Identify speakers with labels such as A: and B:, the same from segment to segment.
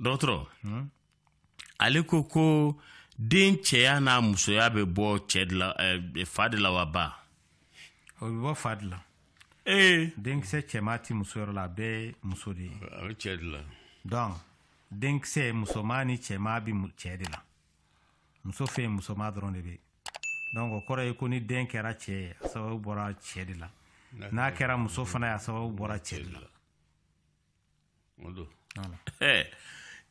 A: dɔgɔtɔrɔ ale ko ko den cɛya n'a musoya bɛ bɔ cɛ de la eh, fa de la wa ba o
B: bɛ bɔ fa de la ee denkisɛ cɛman ti muso yɔrɔ la a bɛɛ ye muso de ye a bɛ cɛ de la
C: donc
B: denkisɛ musoman ni cɛman bi cɛ de la muso fɛ yen musoman dɔrɔn de bɛ donc o kɔrɔ ye ko ni den kɛra cɛ ye a sababu bɔra cɛ de la n'a kɛra muso fana ye a sababu bɔra cɛ de
A: la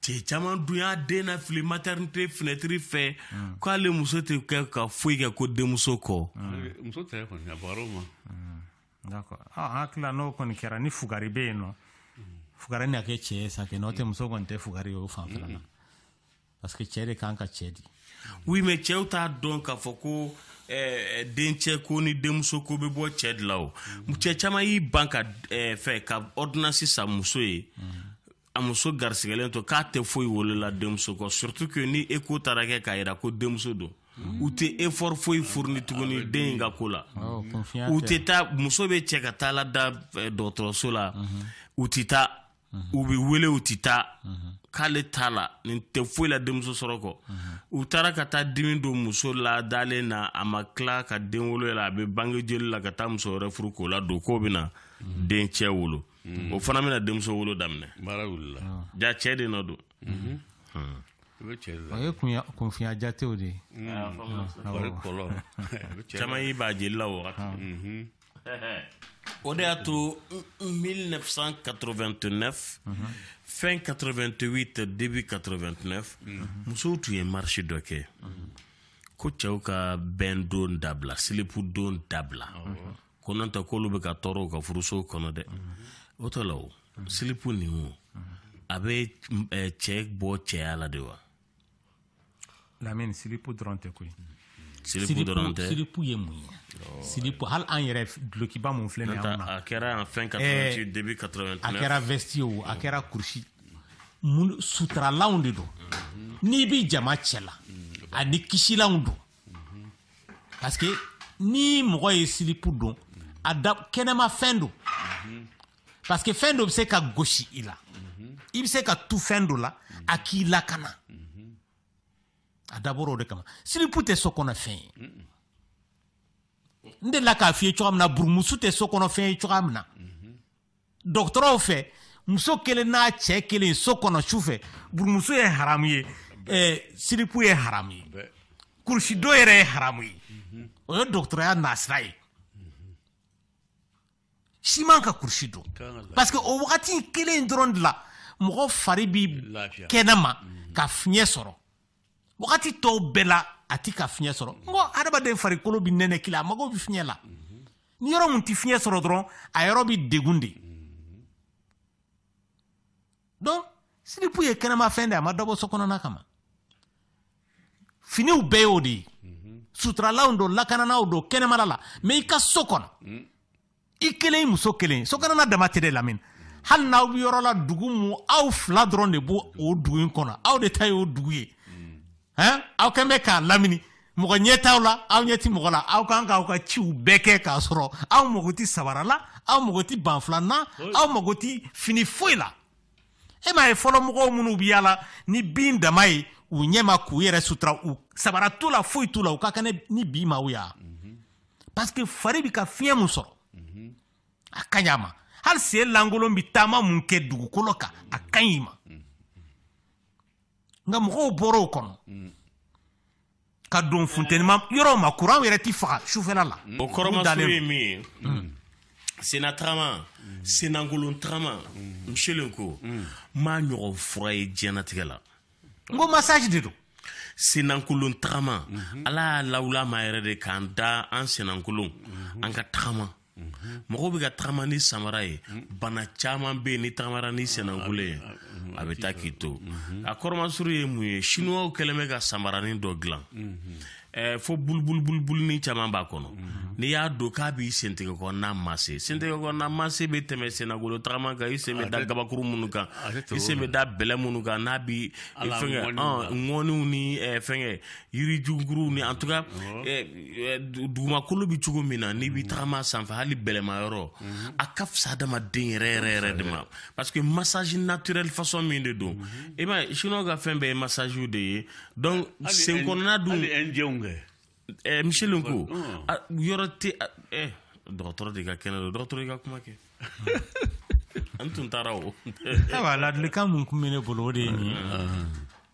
A: cɛ caman dun y'a den nafili maternité fenêtre fɛ hmm. k'ale muso tɛ kɛ ka foyi kɛ ko denmuso kɔ hmm. muso tɛ
C: kɔni a bɔra o ma
B: hmm. d'accord an hakili n'o kɔni kɛra ni fugari bɛ yen nɔ fugari na kɛ cɛ ye sa kɛ n'o tɛ muso kɔni tɛ fugari ye o fanfɛla la parce que cɛ de kan ka cɛ di oui mais
A: cɛw t'a dɔn k'a fɔ ko eh, dencɛ ko ni denmuso ko bɛ bɔ cɛ de la o cɛ caman y'i ban ka eh, fɛ ka ordonnance san muso ye a muso garisigɛlen to k'a tɛ foyi wolo la denmuso kɔ surtout que ni écho taara kɛ k'a yira ko denmuso don u tɛ effort foyi fourni tuguni ah, den in ka ko la oh, u tɛ taa muso bɛ se ka taa lada eh, dɔgɔtɔrɔso la u tɛ taa u bɛ wele u tɛ taa k'ale t'a la nin tɛ foyi la denmuso sɔrɔ kɔ u taara ka taa dimi don muso la dalen na a ma tila ka den wolo la a bɛ bange joli la ka taa muso wɛrɛ furu k'o ladon k'o bɛna dencɛ wolo o fana bɛna denmuso wolo
C: daminɛ jaa cɛ de
A: nɔ don
B: o ye kunfinya jatew de ye
A: caman y'i b'a jeli la wagati o de y'a to 1989 fin 88 début 89 musow tun ye marche dɔ kɛ ko cɛw ka bɛn don dabila silipu don dabila ko n'o tɛ k'olu bɛ ka tɔɔrɔ u ka furusow kɔnɔ dɛ o tɔ la o silipu nin o a bɛ cɛ bɔ cɛya la de wa
B: Lamine silipu dɔrɔn tɛ koyi silipu
A: dɔrɔn tɛ silipu ye mun
B: ye silipu hali an yɛrɛ dulokiba mun filɛ nin ye an na a kɛra en fin 88
A: début 89 a kɛra vesti ye
B: o a kɛra kurusi mun sutaralanw de don n'i bi jama cɛla ani kisilanw don parce que ni mɔgɔ ye silipu don a da kɛnɛma fɛn don parce que fɛn dɔ bɛ se ka gosi i la i bɛ se ka tu fɛn dɔ la a k'i lakana a dabɔra o de kama silipu tɛ so kɔnɔ fɛn ye n delila k'a f'i ye cogoya min na burumuso tɛ so kɔnɔ fɛn ye cogoya min na dɔgɔtɔrɔw fɛ muso kelen n'a cɛ kelen so kɔnɔ su fɛ burumuso ye haramu ye eh, silipu ye haramu ye kurusidon yɛrɛ ye haramu ye o ye dɔgɔtɔrɔya nasira ye si man ka kurusi don parce que o wagati kelen in dɔrɔn de la mɔgɔ fari bi kɛnɛma mm. ka fiɲɛ sɔrɔ wagati tɔw bɛɛ la a ti ka fiɲɛ sɔrɔ n ko adamaden farikolo bi nɛnɛkili a mago bi fiɲɛ la mm-hmm. ni yɔrɔ mun ti fiɲɛ sɔrɔ dɔrɔn a yɔrɔ bi degun de mm. donc silipu ye kɛnɛmafɛn de a ma dabɔ so kɔnɔna kama finiw bɛɛ y'o de ye mhm. suturalaw don lakananaw don kɛnɛmala la mais i ka so kɔnɔ mm. i kelen i muso kelen so kɔnɔna dama tɛ dɛ lamini hali n'aw bɛ yɔrɔ la dugu mu aw fila dɔrɔn de b'o o dugu in kɔnɔ aw de ta ye o dugu ye hɛn aw kɛlen bɛ k'a lamini mɔgɔ ɲɛ t'aw la aw ɲɛ ti mɔgɔ la aw kan k'aw ka ciw bɛɛ kɛ k'a sɔrɔ aw mago ti sabara la aw mago ti banfula na aw mago ti fini foyi la e m'a ye fɔlɔ mɔgɔw minnu bi yaala ni bin dama ye u ɲɛ ma k'u yɛrɛ sutura u sabara t'u la foyi t'u la u ka kɛnɛ ni bi maaw ye parce que fari bi ka fiɲɛ mun sɔrɔ a ka ɲi a ma hali sen lankolon bi taama mun kɛ dugukolo kan a ka ɲi ma nka mɔgɔw bɔra o kɔnɔ ka don funtɛnima yɔrɔ ma kuran yɛrɛ ti faga sufɛla la o kɔrɔmaso ye
A: min ye mm. sena tagama mm. senankolon tagama mm. Michel n ko n m'a ɲɔgɔn fura ye diɲɛnatigɛ la n ko
B: massage de don
A: senankolon tagama mm-hmm. ala y'a lawul'a ma yɛrɛ de k'an da an senankolon mm-hmm. an ka tagama mɔgɔw bɛ ka tagama ni samara ye bana caman bɛ yen n'i tagamara ni senankolon ye a bɛ taa k'i to a kɔrɔmasuru ye mun ye sinuwaw kɛlen bɛ ka samaranin dɔ dilan fo bulubulubulubuluni caman b'a kɔnɔ n'i y'a don k'a b'i sentigɛ kɔnɔna masser sentigɛ kɔnɔna masser bɛ tɛmɛ senankolon tagama kan i sen bɛ da gabakuru minnu kan i sen bɛ da bɛlɛ minnu kan n'a bi fɛngɛ ŋɔniw ni fɛngɛ yirijuguru ni en tout cas eh, eh, dugumakolo bɛ cogo min na n'i bɛ tagama sanfɛ hali bɛlɛma yɔrɔ mhm. a ka fisa adamaden yɛrɛ yɛrɛ yɛrɛ de ma parce que massage naturel façon min de don mhm. i b'a ye chinois ka fɛn bɛɛ ye massage de ye donc sen kɔnɔna dun hali indiyɛnw kɛ eh, Michel n ko yɔrɔ tɛ dɔgɔtɔrɔ de ka kɛnɛ don dɔgɔtɔrɔ i ka kuma kɛ An tun taara o ayiwa
B: ladilikan minnu tun bɛ ne bolo o de ye nin ye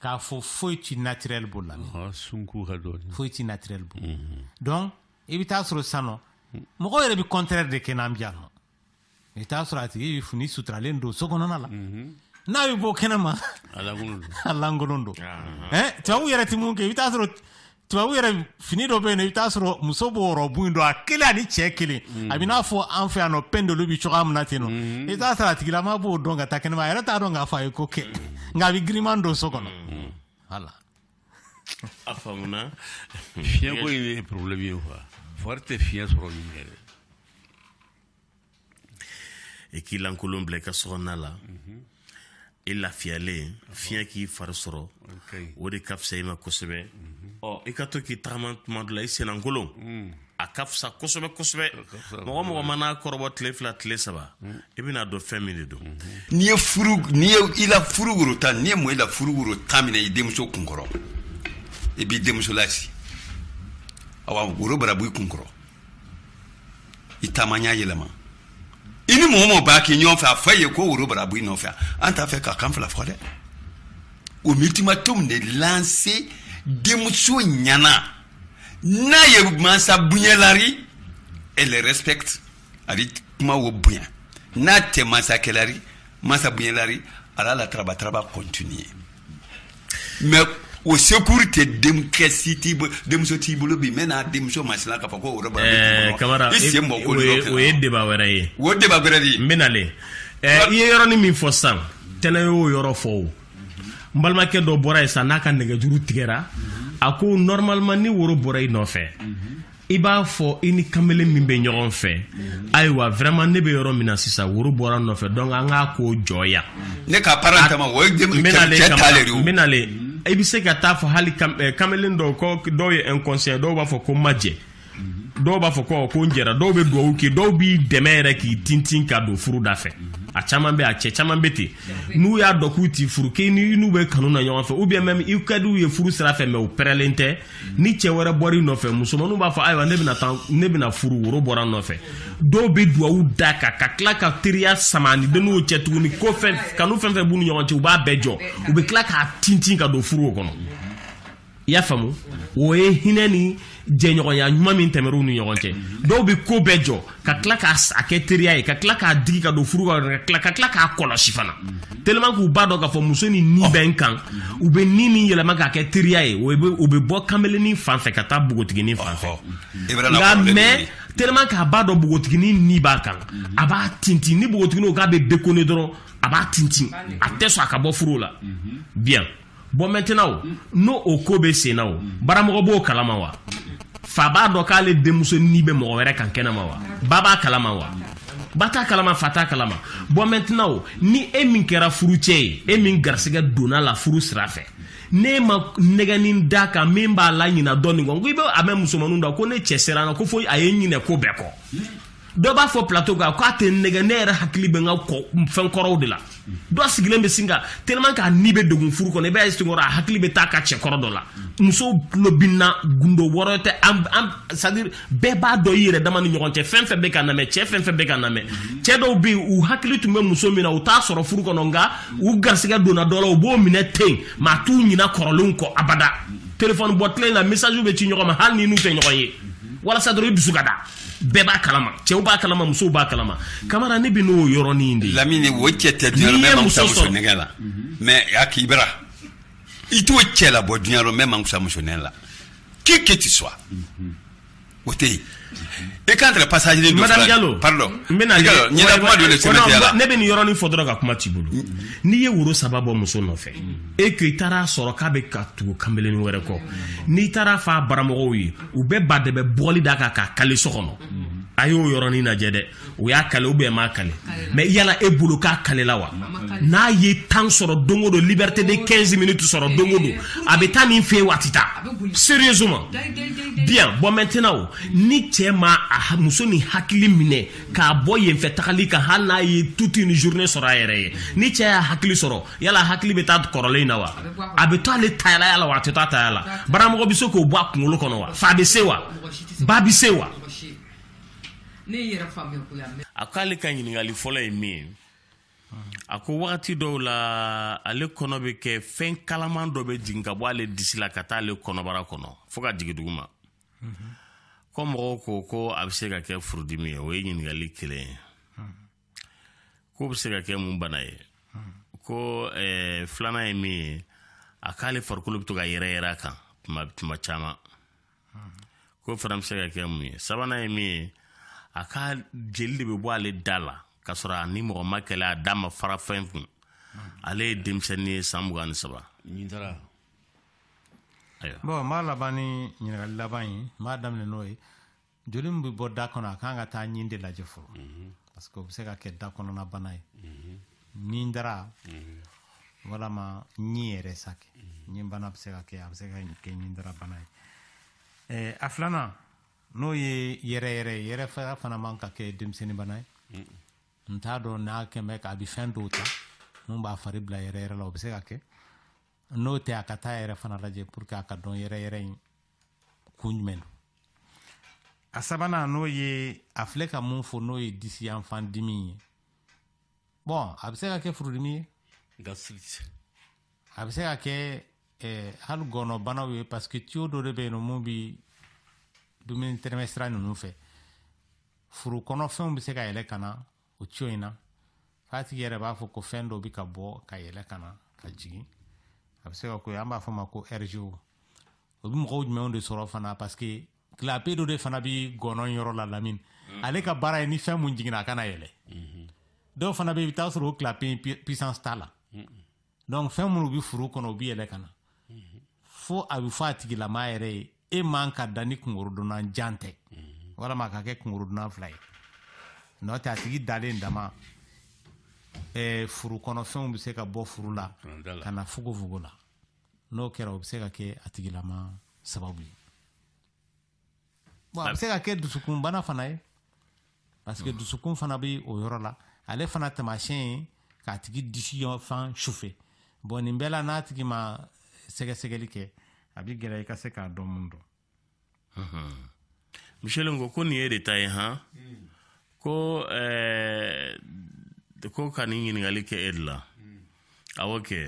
B: k'a fɔ foyi ti naturel b'o la sun k'u ka dɔɔnin foyi ti naturel bɔ donc i bɛ taa sɔrɔ sisan nɔ mɔgɔw yɛrɛ bɛ contraire de kɛ n'an bɛ yan nɔ i bɛ taa sɔrɔ a tigi bɛ fini suturalen don so kɔnɔna la n'a bɛ bɔ kɛnɛ ma a lankolon don tubabu yɛrɛ tɛ mun kɛ i bɛ taa sɔrɔ tubabu yɛrɛ fini dɔ bɛ yen i bɛ taa sɔrɔ muso b'o rɔbu in don a kelen ani cɛ kelen a bɛ n'a fɔ an fɛ yan nɔ pendelu bɛ cogoya min na ten nɔ mm-hmm. i bɛ taa sɔrɔ a tigilama b'o don ka taa kɛnɛma a yɛrɛ t'a dɔn k'a fɔ a ye ko kɛ mm-hmm. nka a bɛ giriman don so kɔnɔ mm-hmm.
A: voilà. a faamuna fiɲɛko
C: in ye problème ye quoi fari tɛ fiɲɛ sɔrɔ nin yɛrɛ.
A: i k'i lankolon bila i ka sokɔnɔna la i lafiyalen fiɲɛ k'i fari sɔrɔ o de ka fisa i ma kosɛbɛ ɔ i ka to k'i tagama tuma dɔ la i senlankolon mm. a ka fisa kosɛbɛ kosɛbɛ mɔgɔ mɔgɔ mana kɔrɔbɔ tile fila tile saba mm. i bɛna dɔn fɛn min de don mm-hmm. n'i ye
D: furu n'i ye i la furu woro tan n'i ye mɔ i la furu woro tan minɛ i denmuso kun kɔrɔ i b'i denmuso lasi awa woro bara bɔ i kun kɔrɔ i taama ɲa yɛlɛma i ni mɔgɔ mɔgɔ b'a kɛ ɲɔgɔn fɛ a fɔ ye ko woro bara bɔ i nɔfɛ an t'a fɛ k'a kan fila fɔ dɛ o ultimatum de lancé denmuso ɲana n'a ye mansa bonyala ri elle respecte a ri kuma o bonya n'a tɛ mansa kɛla ri mansa bonyala ri a l'a la taraba taraba continuer mais o sécurité denkɛ si t'i bolo denmuso t'i bolo bi maintenant denmuso masina k'a fɔ ko o yɔrɔ kamara i sen mɔ ko
A: o ye débat wɛrɛ ye o débat wɛrɛ de ye
D: maintenant
A: le i ye yɔrɔnin min fɔ san tɛnɛ y'o yɔrɔ fɔ o n balimakɛ dɔ bɔra yen san n'a ka nɛgɛjuru tigɛra a ko normalement ni woro bɔra i nɔfɛ i b'a fɔ i ni kamalen min bɛ ɲɔgɔn fɛ ayiwa vraiment ne bɛ yɔrɔ min na sisan woro bɔra n nɔfɛ donc an k'a ko jɔya ne ka parent
D: tama o ye cɛ ta le de maintenant le i bɛ se
A: ka taa fɔ hali eh, kamalen dɔw ko dɔw ye inconscient dɔw b'a fɔ ko n ma jɛ dɔw b'a fɔ ko ko n jɛra dɔw bɛ dugawu kɛ dɔw b'i dɛmɛ yɛrɛ k'i tintin ka don furu da fɛ a caman bɛ a cɛ caman bɛ ten n'u y'a dɔn k'u t'i furu k'i n'u bɛ kanu na ɲɔgɔn fɛ ou bien même i ka d'u ye furu sira fɛ mais u pɛrɛlen tɛ ni cɛ wɛrɛ bɔra i nɔfɛ musomanninw b'a fɔ ayiwa ne bɛna taa ne bɛna furu woro bɔra n nɔfɛ dɔw bɛ duwawu d'a kan ka tila ka teriya sama ni denninw cɛ tuguni ko fɛn kanu fɛn fɛn b'u ni ɲɔgɔn cɛ u b'a bɛɛ jɔ u bɛ tila k'a tintin ka don furu o kɔnɔ i y'a faamu o ye hinɛ ni jɛɲɔgɔnya ɲuman min tɛmɛr'u ni ɲɔgɔn cɛ dɔw bɛ ko bɛɛ jɔ ka tila k'a kɛ teriya ye ka tila k'a digi ka don furu ka tila k'a kɔlɔsi fana tellement k'u b'a dɔn k'a fɔ muso ni ni bɛ n kan u bɛ ni ni yɛlɛma k'a kɛ teriya ye o bɛ bɔ kameleni fan fɛ ka taa bogotigini fan fɛ nka mais tellement k'a b'a dɔn bogotigini ni b'a kan a b'a tintin ni bogotigini ko k'a bɛ déconner dɔrɔn a b'a tintin a tɛ sɔn a ka bɔ furu la bien bon maintenant o ni o ko bɛ sen na o baramɔgɔ b'o kalama wa fa b'a dɔn k'ale denmuso ni bɛ mɔgɔ wɛrɛ kan kɛnɛ ma wa ba b'a kalama wa ba t'a kalama fa t'a kalama bon maintenant o ni e min kɛra furucɛ ye e min garisigɛ donna la furu sira fɛ ne ma nɛgɛnin da kan min b'a laɲina dɔ nin kɔ n ko i bɛ a mɛn musomaninw da ko ne cɛ sera n na ko fo a ye ɲinɛ ko bɛɛ kɔ dɔ b'a fɔ plateau kan k'a tɛ nɛgɛ ne yɛrɛ hakili bɛ n ka fɛn kɔrɔw de la dɔ sigilen bɛ sin ka tellement k'a ni bɛ degun furu kɔnɔ i b'a ye senkɔrɔ a hakili bɛ taa ka cɛ kɔrɔ dɔ la musow tulo bɛ n na gundo yɔrɔ tɛ an an c'est à dire bɛɛ b'a dɔn i yɛrɛ dama ni ɲɔgɔn cɛ fɛn fɛn bɛ ka n lamɛn cɛ fɛn fɛn bɛ ka n lamɛn cɛ dɔw bɛ yen u hakili tun bɛ muso min na u t'a sɔrɔ furu kɔnɔ nka u garisigɛ donna dɔ la u b'o minɛ ten mais a t'u ɲinɛ kɔrɔlenw kɔ abada telefɔni bɔ tile in na message bɛ ci ɲɔgɔn ma hali ni n'u tɛ ɲɔgɔn ye walasa dɔrɔn i dusu ka da bɛɛ b'a kalama cɛw b'a kalama musow b'a kalama kamara ne bɛ n'o yɔrɔnin de lamini o cɛ tɛ duniya
D: rɔ min mako sa muso nɛgɛ la mais a k'i bara i t'o cɛ labɔ duniya rɔ min mako sa muso nɛgɛ la qui que tu sois o tɛ yen et quant au passage de madame Diallo
A: pardon n
D: bɛna
A: ɲɛna kuma dɔ de sɛmɛntiya la ne bɛ nin yɔrɔnin fɔ dɔrɔn ka kuma t'i bolo n'i ye woro saba bɔ muso nɔfɛ et que i taara sɔrɔ k'a bɛ ka tugu kanbelenin wɛrɛ kɔ n'i taara f'a baramɔgɔw ye u bɛ ba dɛbɛ bugɔli da kan k'a kale so kɔnɔ a y'o yɔrɔnin lajɛ dɛ o y'a kale ou bien m'a kale mais yala e bolo k'a kalela wa n'a ye temps sɔrɔ don o don liberté de 15 minutes sɔrɔ don o don a bɛ taa nin fɛ yen wa a tɛ taa sérieusement bien bon maintenant o ni cɛ ma a muso ni hakili minɛ k'a bɔ yen fɛ tagali kan hali n'a ye toute une journée sɔrɔ a yɛrɛ ye ni cɛ y'a hakili sɔrɔ yala hakili bɛ taa kɔrɔlen in na wa a bɛ to ale taya la wa a tɛ to a taya la baramɔgɔ bɛ se k'o bɔ a kunkolo kɔnɔ wa fa bɛ se wa ba bɛ se wa a ko ale ka ɲininkali fɔlɔ ye min ye a ko wagati dɔw la ale kɔnɔ bɛ kɛ fɛn kalaman dɔ bɛ jigin ka bɔ ale disi la ka taa ale kɔnɔbara kɔnɔ fo ka jigin duguma ko mɔgɔw ko ko a bɛ se ka kɛ furudimi ye o ye ɲininkali kelen ye k'o bɛ se ka kɛ mun bana ye ko eh, filanan ye min ye a k'ale farikolo bɛ to ka yɛrɛ yɛrɛ a kan tuma tuma caman k'o fana bɛ se ka kɛ mun ye sabanan ye min ye a ka jeli de bɛ bɔ ale da la k'a sɔrɔ a ni mɔgɔ ma kɛlɛ a da ma fara fɛn kun ale ye denmisɛnnin ye san mugan ni saba
B: bon n b'a laban ni ɲininkali laban ye n b'a daminɛ n'o ye joli min bɛ bɔ da kɔnɔ a kan ka taa ɲin de lajɛ fɔlɔ mhm. parce que o bɛ se ka kɛ da kɔnɔna bana ye mhm. ɲin dara mhm. walama ɲin yɛrɛ sa kɛ ɲin bana bɛ se ka kɛ a bɛ se ka kɛ ɲin dara bana ye eh, a filanan n'o ye yɛrɛyɛrɛ ye yɛrɛ faya fana man ka kɛ denmisɛnnin bana ye n t'a dɔn n'a kɛmɛ k'a bɛ fɛn dɔw ta mun b'a fari bila yɛrɛyɛrɛ la o bɛ se ka kɛ n'o tɛ a ka taa yɛrɛ fana lajɛ pour que a ka dɔn yɛrɛyɛrɛ in kun jumɛn don a sabanan n'o ye a filɛ ka mun fɔ n'o ye disi yanfan dimi ye bon a bɛ se ka kɛ furudimi ye gastrite a bɛ se ka kɛ eh, hali gɔnɔbanaw ye parce que tiyo dɔ de bɛ yen nɔ mun bi dumuni tɛmɛsira ninnu fɛ furu kɔnɔfɛnw bɛ se ka yɛlɛ ka na o tiyo in na f'a tigi yɛrɛ b'a fɔ ko fɛn dɔ bɛ ka bɔ ka yɛlɛ ka na ka jigin a bɛ se ka k'o ye an b'a fɔ ma ko rgo o bɛ mɔgɔw jumɛnw de sɔrɔ fana parce que clapet dɔ de fana bɛ gɔnɔn yɔrɔ la lamini mm-hmm. ale ka baara ye ni fɛn mun jiginna a kana yɛlɛ mm-hmm. dɔw fana bɛ i bɛ taa sɔrɔ o clapet puissance t'a la mm-hmm. donc fɛn minnu bɛ furu kɔnɔ u bɛ yɛlɛ ka na fo a bɛ fɔ a tigilama yɛrɛ ye e man ka da ni kunkɔrɔdonnan jan tɛ walama a ka kɛ kunkɔrɔdonnan fila ye n'o tɛ a tigi dalen dama ɛɛ furu kɔnɔfɛnw bɛ se ka bɔ furu la ka na fogonfogon la n'o kɛra o bɛ se ka kɛ a tigilama sababu ye bon a bɛ se ka kɛ dusukunbana fana ye parce que dusukun fana bɛ o yɔrɔ la ale fana taamasiyɛn ye k'a tigi disi fan sufɛ bon nin bɛɛ la n'a tigi ma sɛgɛsɛgɛli kɛ a bɛ gɛlɛya i ka se k'a dɔn mun
A: don miselen ko ko nin y'e de ta ye han ko eh, ko ka nin ɲininkali kɛ e de la awɔ kɛ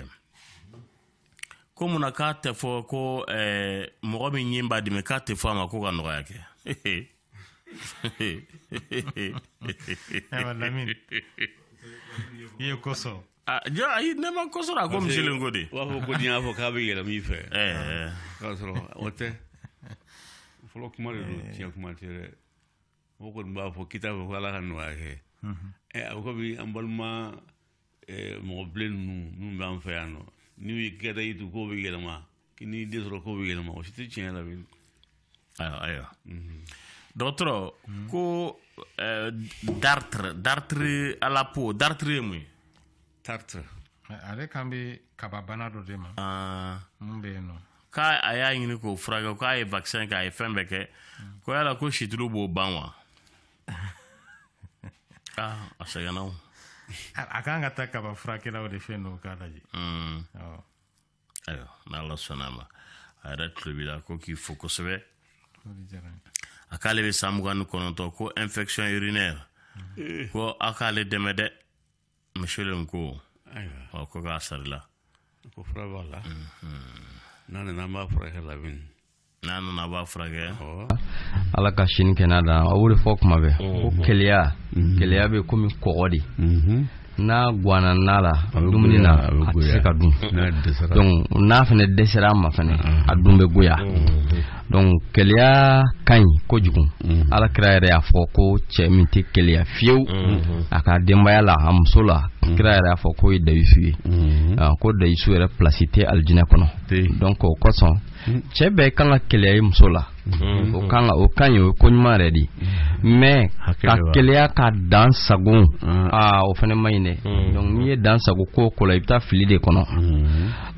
A: ko mun na k'a tɛ fɔ ko eh, mɔgɔ min ɲin b'a dimi k'a tɛ fɔ a ma ko ka nɔgɔya kɛ
B: i ye ko sɔrɔ Ah, jɔ ayi ne
A: ma ko sɔrɔ a ko miselen ko de b'a fɔ ko n'i y'a fɔ k'a bɛ
C: yɛlɛma i fɛ k'a sɔrɔ o tɛ fɔlɔ kuma de don tiɲɛ kuma tɛ dɛ mɔgɔ kɔni b'a fɔ kita fɛ ko ala ka nɔgɔya kɛ ɛ a ko bi an balima mɔgɔ bilen ninnu minnu b'an fɛ yan nɔ n'u ye k'i daji tu k'o bɛ yɛlɛma k'i n'i den sɔrɔ k'o bɛ yɛlɛma o si tɛ tiɲɛ la bilen ayiwa
A: ayiwa dɔgɔtɔrɔ ko dartre dartre à la peau dartre ye mun ye
C: dartre ale
B: kan bɛ kababana dɔ de ma ah. mun bɛ yen nɔ k'a a y'a
A: ɲini k'o furakɛ k'a ye vaccin kɛ a ye fɛn bɛɛ kɛ ko yala ko situlu b'o ban wa ah, a sɛgɛnna o a kan
B: ka taa kaba furakɛlaw de fɛ yen nɔ k'a lajɛ
A: hmm. ayiwa n'ala sɔnna a ma a yɛrɛ tulo b'i la ko k'i fo kosɛbɛ a k'ale bɛ san mugan ni kɔnɔntɔn ko infection urinaire hmm. ko aw k'ale dɛmɛ dɛ musolen ko ɔ ko k'a sarila ko fura
C: b'a la n'a nana an b'a furakɛ lamini n'a nana a b'a
A: furakɛ ala
E: ka si ni kɛnɛya d'a ma a b'o de fɔ kuma bɛɛ ko keleya keleya bɛ komi kɔgɔ de n'a guana na la dumuni na a tɛ se ka dun donc n'a fana dɛsɛra a ma fana a dun bɛ goya donc keleya ka ɲi kojugu mhm. ala kira yɛrɛ y'a fɔ ko cɛ min tɛ keleya fiyewu mhm. a ka denbaya la a muso la mhm. kira yɛrɛ y'a fɔ k'o ye dayisu ye ah, ko dayisu yɛrɛ pilasi tɛ alijinɛ kɔnɔ donc o kosɔn cɛ bɛɛ kan ka keleya i muso la o kan ka o ka ɲi o ye ko ɲuman yɛrɛ de ye mais ka keleya ka dan sago aa ah, o fana man ɲi dɛ donc n'i ye dan sago ko o ko la i bɛ taa fili de kɔnɔ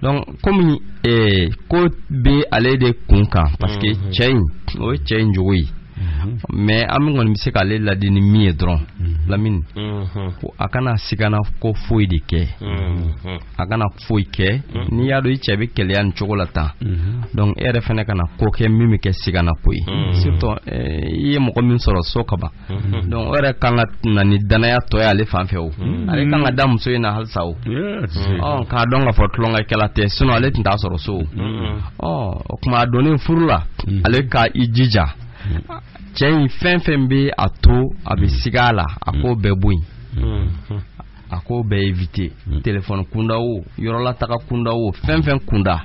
E: donc komi eh, ko bɛ ale de kun kan parce que mhm. cɛ in o ye cɛ in jogo ye mhm. mais an min kɔni bɛ se k'ale ladi ni min ye dɔrɔn mhm. lamini ko a kana sigana ko foyi de kɛ a kana foyi kɛ n'i y'a dɔn i cɛ bɛ keleya nin cogo la tan donc e yɛrɛ fana kana ko kɛ min bɛ kɛ sigana ko ye surtout eh, i ye mɔgɔ min sɔrɔ so kaban Mhm. Donc o yɛrɛ kan ka na ni danaya tɔ ye ale fan fɛ o, mhm. ale kan ka da muso in na halisa o, mhm. ɔ k'a dɔn k'a fɔ tulonkɛkɛla tɛ sinon ale tun t'a sɔrɔ so o, ɔ o tuma a donnen furu la ale ka i jija cɛ in fɛn fɛn bɛ a to a bɛ siga a la a k'o bɛɛ bɔ yen. a k'o bɛɛ éviter téléphone kunda o yɔrɔlataga kunda o fɛn fɛn kunda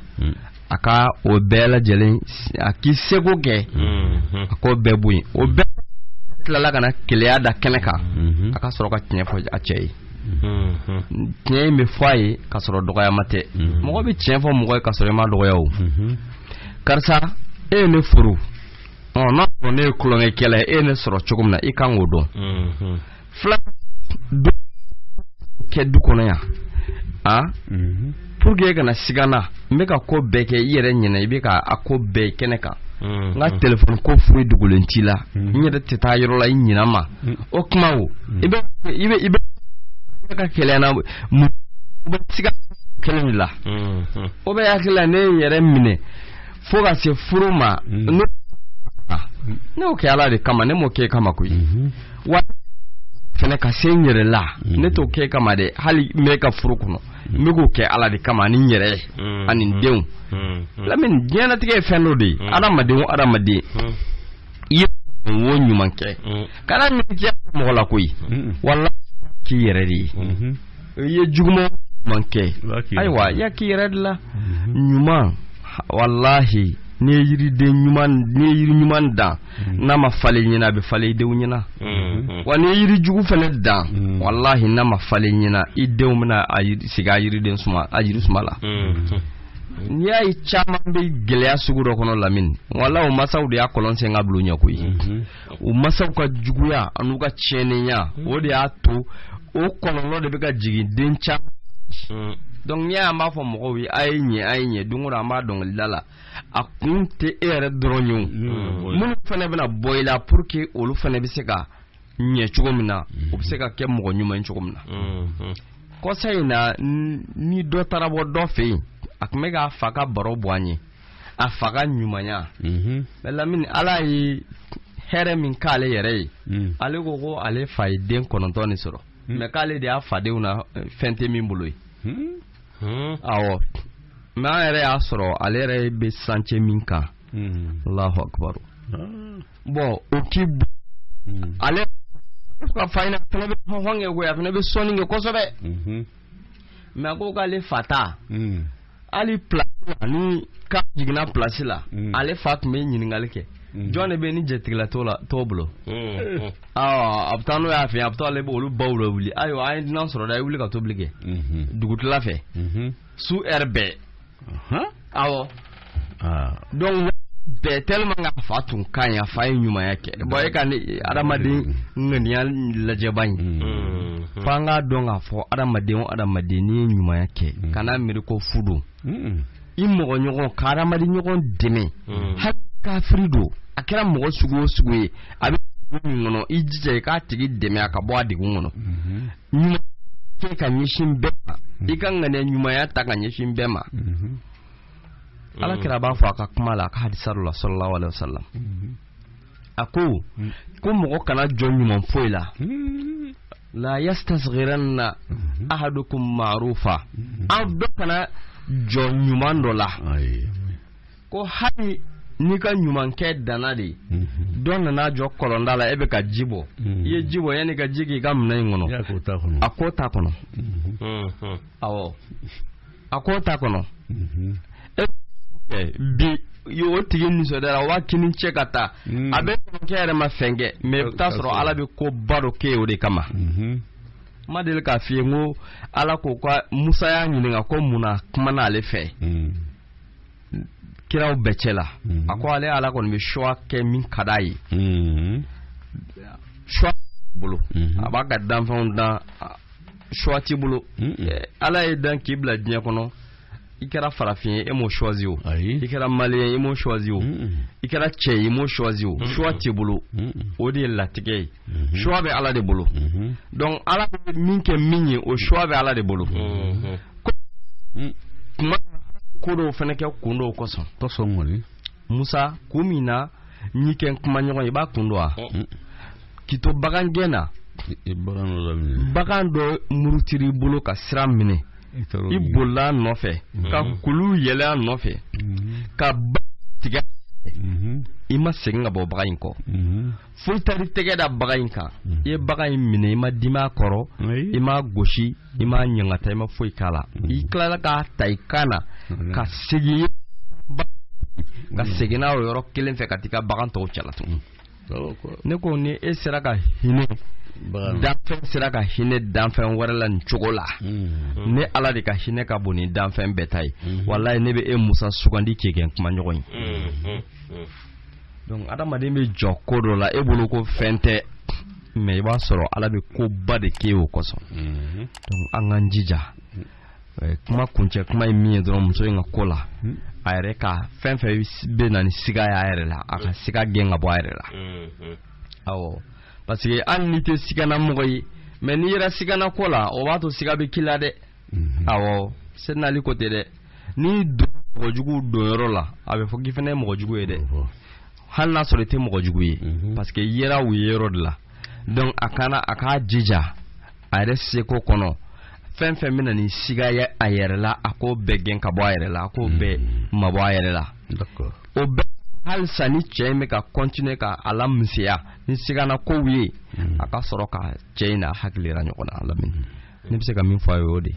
E: a ka o bɛɛ lajɛlen a k'i seko kɛ mhm. a k'o bɛɛ bɔ yen o bɛɛ tilala ka na keleya da kɛnɛ kan mhm. a ka sɔrɔ ka tiɲɛ fɔ a cɛ ye mhm. tiɲɛ in bɛ fɔ a ye ka sɔrɔ dɔgɔyama tɛ mɔgɔ bɛ tiɲɛ fɔ mɔgɔ ye ka sɔrɔ i ma dɔgɔya o karisa e ye ne furu ɔ n'a sɔrɔ ne ye tulonkɛkɛla ye e ye ne sɔrɔ cogo min na i kan k'o dɔn fila kɛ du kɔnɔ yan a mhm. pour que e kana siga na n bɛ ka ko bɛɛ kɛ i yɛrɛ ɲɛna i bɛ ka a ko bɛɛ kɛnɛ kan mhm. n ka telefɔni ko foyi dogolen t'i la mhm. n yɛrɛ tɛ taa yɔrɔ la i ɲina ma o kuma o i bɛ i bɛ i bɛ ka keleya n na mun bɛ siga kelen de la o bɛ hakili la ne ye n yɛrɛ minɛ fo ka se furu ma ne y'o kɛ ala de kama ne m'o kɛ kama koyi wa fɛnɛ ka se n yɛrɛ la ne t'o kɛ kama dɛ hali n bɛ ka furu kɔnɔ n bɛ k'o kɛ ala de kama ani n yɛrɛ ye ani n denw lamini diɲɛlatigɛ ye fɛn dɔ de ye adamaden o adamaden i ye ko ɲuman kɛ kana miiri mɔgɔ la koyi wala k'i yɛrɛ de ye i ye juguman kɛ ayiwa i y'a k'i yɛrɛ de la mhm. ɲuman walahi n'i ye yiriden ɲuman n'i ye yiri ɲuman dan mhm. n'a ma falen i ɲɛna a bɛ falen i denw ɲɛna mhm. wa n'i ye yiri jugu fana dan walahi n'a ma falen i ɲɛna i denw bɛna sigi a yiriden suma a yiri suma la n'i y'a ye caman bɛ gɛlɛya sugu dɔ kɔnɔ lamini wala u masaw de y'a kɔlɔn sen ka bil'u ɲɛ koyi u masaw ka juguya an'u ka tiɲɛniya hmm. o de y'a to o kɔlɔlɔ de bɛ ka jigin den caman hmm. donc n'i y'a ye an b'a fɔ mɔgɔw ye a ye ɲɛ a ye ɲɛ don o don an b'a dɔnkilida la a kun tɛ e yɛrɛ dɔrɔn ye o hmm. minnu fana bɛna bɔ i la pour que olu fana bɛ se ka ɲɛ cogo min na u bɛ se ka kɛ mɔgɔ ɲuman ye cogo min na kɔsa in na ni dɔ taara bɔ dɔ fɛ yen a tun bɛ k'a fa ka baro bɔ an ye a fa ka ɲumanya mais lamini ala ye hɛrɛ min k'ale yɛrɛ ye mm. ale ko ko ale fa ye den kɔnɔntɔn de sɔrɔ mm. mais k'ale de y'a fadenw na eh, fɛn tɛ min bolo ye mm. Hmm. awɔ mais an yɛrɛ y'a sɔrɔ ale yɛrɛ bɛ chantier min kan hmm. alahu akubaru ah. bon o k'i hmm. ale ka fa in fana bɛ hɔn kɛ koyi a fana bɛ sɔnni kɛ kosɛbɛ mais a ko k'ale fa ta hali place la ni car jiginna place la hmm. ale fa tun bɛ ɲininkali kɛ hmm. jɔn de bɛ ni jatigila t'o la t'o bolo hmm. a bɛ taa n'o y'a fɛ a bɛ taa ale bɛ olu baw lawuli ayiwa an ye dunan sɔrɔ dɛ a ye wuli ka tobili kɛ dugutila fɛ su heure bɛɛ awɔ donc bɛɛ tellement que a fa tun ka ɲi a fa ye ɲumanya kɛ bon e ka ne adamaden ŋaniya lajɛba in fo an k'a dɔn k'a fɔ adamaden o adamaden n'i ye ɲumanya kɛ kana miiri ko fu don i mɔgɔ ɲɔgɔn ka adamaden ɲɔgɔn dɛmɛ hali kafiri don a kɛra mɔgɔ sugu o sugu ye a bɛ min kɔnɔ i jija i k'a tigi dɛmɛ a ka bɔ a degun kɔnɔ ɲuman kɛ ka ɲɛsin bɛɛ ma i ka ŋaniya ɲumanya ta ka ɲɛsin bɛɛ ma ala kira b'a fɔ a ka kuma la a ka hadisa la sallallahu alaihi wasallam a ko hmm. ko mɔgɔ kana jɔn ɲuman foyi la hmm. la yastasghiranna hmm. ahadukum ma'rufa aw dɔ kana jɔn ɲuman dɔ la ko hali n'i ka ɲumankɛ danna de dɔ nana jɔ kɔlɔnda la e bɛ ka ji bɔ i ye ji bɔ yanni i ka ji k'i ka minɛn in kɔnɔ a k'o ta kɔnɔ awɔ a ko t'a kɔnɔ bi o tigi nisɔndiyara waa k'i ni ce ka taa hmm. a bɛ kɛ yɛrɛ ma fɛn kɛ mais i bɛ taa sɔrɔ ala bɛ koba dɔ kɛ o de kama hmm. n ma deli k'a f'i ye ko ala ko ka musa y'a ɲininka ko mun na kuma n'ale fɛ hmm. kiraw bɛɛ cɛ la a ko ale ala kɔni bɛ choix kɛ min ka d'a ye choix bolo a b'a ka danfɛnw dan choix t'i bolo ala y'i dan k'i bila diɲɛ kɔnɔ i kɛra farafin ye e m'o choisi o i kɛra malien ye e m'o choisi o i kɛra cɛ ye e m'o choisi o choix t'i bolo o de ye latigɛ ye Mhm. choix bɛ ala de bolo mhm. donc ala bɛ min kɛ min ye o choix bɛ ala de bolo mhm. mm. kuma ko dɔw fana kɛ kun dɔw kosɔn kosɔn kɔni musa kun min na n y'i kɛ kumaɲɔgɔn ye i b'a kun dɔn wa oh. mm. k'i to bagan gɛn na bagan dɔ murutir'i bolo ka sira minɛ i bolil'a nɔfɛ ka kulu yɛlɛ a nɔfɛ ka ba tigɛ i ma segin ka bɔ bagan in kɔ fo i taar'i tɛgɛ da bagan in kan mm. i ye bagan in minɛ i ma dimi a kɔrɔ i m'a gosi i m'a ɲangata i ma foyi k'a la mm. i tilala k'a ta i kan na mm. ka segin ka segin n'a o yɔrɔ kelen fɛ ka t'i ka bagan tɔw cɛla tun ne ko ni e sera ka hinɛ danfɛn sera ka hinɛ danfɛn wɛrɛ la nin cogo la ne ala de ka hinɛ ka bon ni danfɛn bɛɛ ta ye walayi ne bɛ e musa sugandi k'i kɛ n kumaɲɔgɔn ye donc adamaden bɛ jɔ ko dɔ la e bolo ko fɛn tɛ mais i b'a sɔrɔ ala bɛ koba de kɛ o kosɔn mhm. donc an k'an jija eh, kuma kuncɛ kuma ye min ye dɔrɔn muso in ka ko la mhm. a yɛrɛ ka fɛn fɛn bɛ na ni siga ye a yɛrɛ la a ka mhm. siga gɛn ka bɔ a yɛrɛ la awɔ parce que hali n'i tɛ siganamɔgɔ ye mais n'i yera siganako la o b'a to siga bɛ k'i la dɛ mhm. awɔ sɛdina ali ko ten dɛ n'i don mɔgɔ jugu donyɔrɔ la a bɛ fɔ k'i fana ye mɔgɔ jugu ye dɛ hali n'a sɔrɔ i tɛ mɔgɔ jugu ye mhm. parce que i yera u yeyɔrɔ de la donc a kana a k'a jija a yɛrɛ seko kɔnɔ fɛn fɛn bɛna ni siga ye a yɛrɛ la a k'o bɛɛ gɛn ka bɔ a yɛrɛ la a k'o bɛɛ mhm. mabɔ a yɛrɛ la o bɛɛ halisa ni cɛ in bɛ ka continuer ka a lamisɛnya ni siganakow ye mhm. a ka sɔrɔ ka cɛ in n'a hakili yira ɲɔgɔn na a lamini ne bɛ se ka min fɔ a ye o de ye.